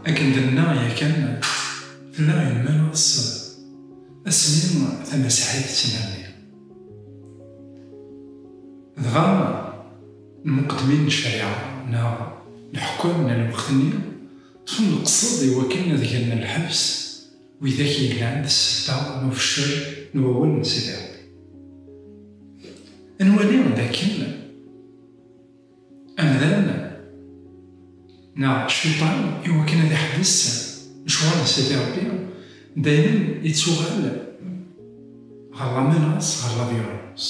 Akken d-nenna yakan, tella imal ur tṣeḍ, asmi tamasiḥit tettnerni. Dɣa, lmuqeddmin n ccariɛa neɣ leḥkam n lweqt-nni ṭṭfen leqsed iwakken ad gen lḥebs, Widak yellan d ssebba n ufeccel n wawal n Sidi Rebbi. Ad nwali d akken amdan neɣ cciṭan i wakken ad iḥbes lecɣal n Sidi Rebbi dayem ittuɣal ɣer la menace, ɣer la violence.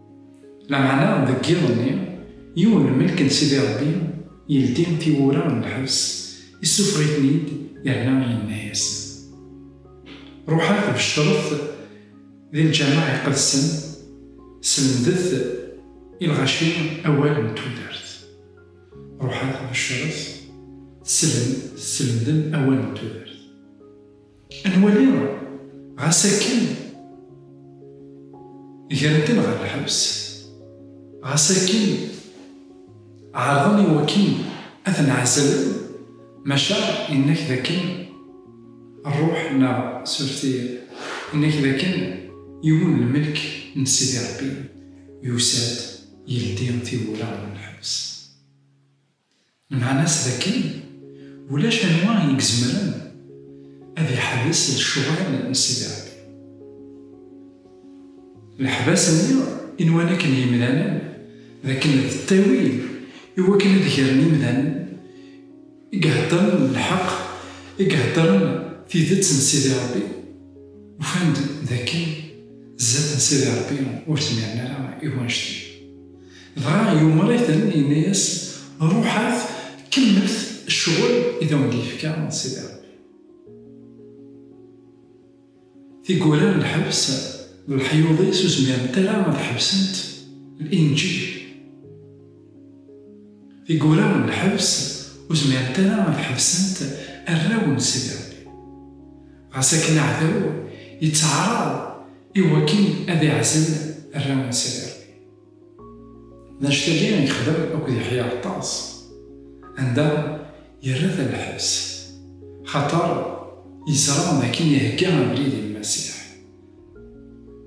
Lameɛna deg yiḍ-nni, yiwen n lmelk n Sidi Ṛebbi yeldi tiwwura n lḥebs, issufeɣ-iten-id yerna yenna-yasen, Ṛuḥet beccṛet di lǧameɛ iqedsen, slemdet i lɣaci awal n tudert. Ṛuḥet beccṛet, teslemdem awal n tudert. Ad nwali ɣas akken gren-ten ɣer lḥebs, ɣas akken ɛerḍen i wakken ad ten-ɛezzlen, maca yenna-k dakken ṛṛuḥ neɣ surti yenna-k dakken yiwen n lmelk n Sidi Ṛebbi yusa-d yeldi tiwwura n lḥebs. Lmeɛna-s d akken, ulac anwa i izemren ad iḥbes lecɣal n Sidi Rebbi. Leḥbas-nni i nwan akken yimdanen d akken d ttawil i wakken ad gren imdanen i iheddren lḥeq, i iheddren tidet n Sidi Rebbi, ufan-d d akken zdat n Sidi Rebbi ur zmiren ara i wanect-a. Dɣa yumer-iten, yenna-yas, Ruḥet, kemmlet ccɣel i d awen-d-yefka Sidi Ṛebbi. Tiggura n lḥebs d leḥyuḍ-is ur zmirent ara ad ḥebsent Linǧil. Tiggura n lḥebs ur zmirent ara ad ḥebsent arraw n Sidi Ṛebbi. Ɣas akken aɛdaw yettɛaraḍ i wakken ad iɛzel arraw n Sidi Ṛebbi. D anect-agi i yexdem akked Yeḥya Ɛeṭṭas, anda yerra-t ɣer lḥebs, xaṭer yeẓra d akken ihegga abrid i Lmasiḥ.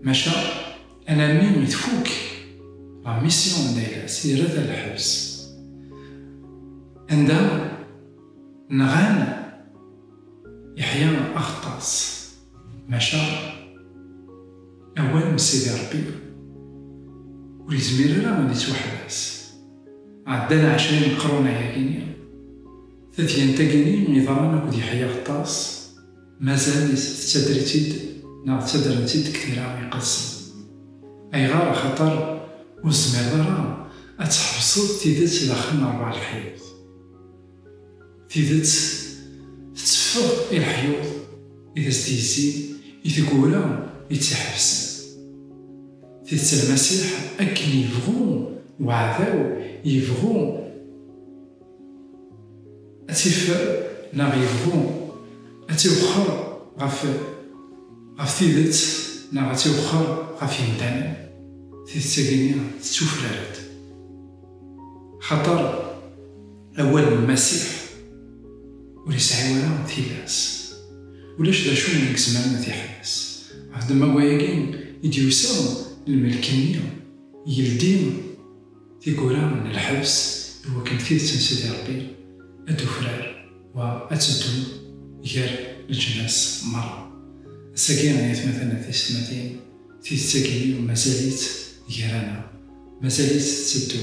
Maca alammi i tfukk la mission n Dayras, yerra-t ɣer lḥebs, anda nɣan Yeḥya Ɛeṭṭas. Maca awal n Sidi Ṛebbi ur yezmir ara ad yettwaḥbes. Ɛeddan ɛecra imeqrunen ayagi-nni, tadyant-agi-nni yeḍran akked Yeḥya Ɣeṭṭas, mazal tettader-itt-id neɣ ttaddren-tt-id deg tira iqedsen. Ayɣer? Axaṭer ur tezmireḍ ara ad tḥebseḍ tidet daxel n ṛebɛa lḥiwet. Tidet tetteffeɣ i leḥyuḍ i d as-d-yezzin i tgura i tt-iḥebsen. Tidet a Lmasiḥ akken yebɣu uɛdaw yebɣu ad tt-ifer neɣ yebɣu ad tt-iwexxer ɣef tidet neɣ ad tt-iwexxer ɣef yemdanen, tidet-agi-nni tettufrar-d. Axaṭer. Awal n Lmasiḥ ur yesɛi wara tilas. Ulac d acu i yezmaren ad t-iḥbes. Ɣef ddemma n wayagi i d-yusa lmelk-nni, yeldi tiwwura n lḥebs i wakken tidet n Sidi Rebbi ad d-tufrar wa ad teddu gar leǧnas merra. Ass-agi, ay atmaten d teysetmatin, tidet-agi mazal-itt gar-aneɣ, mazal-itt tetteddu.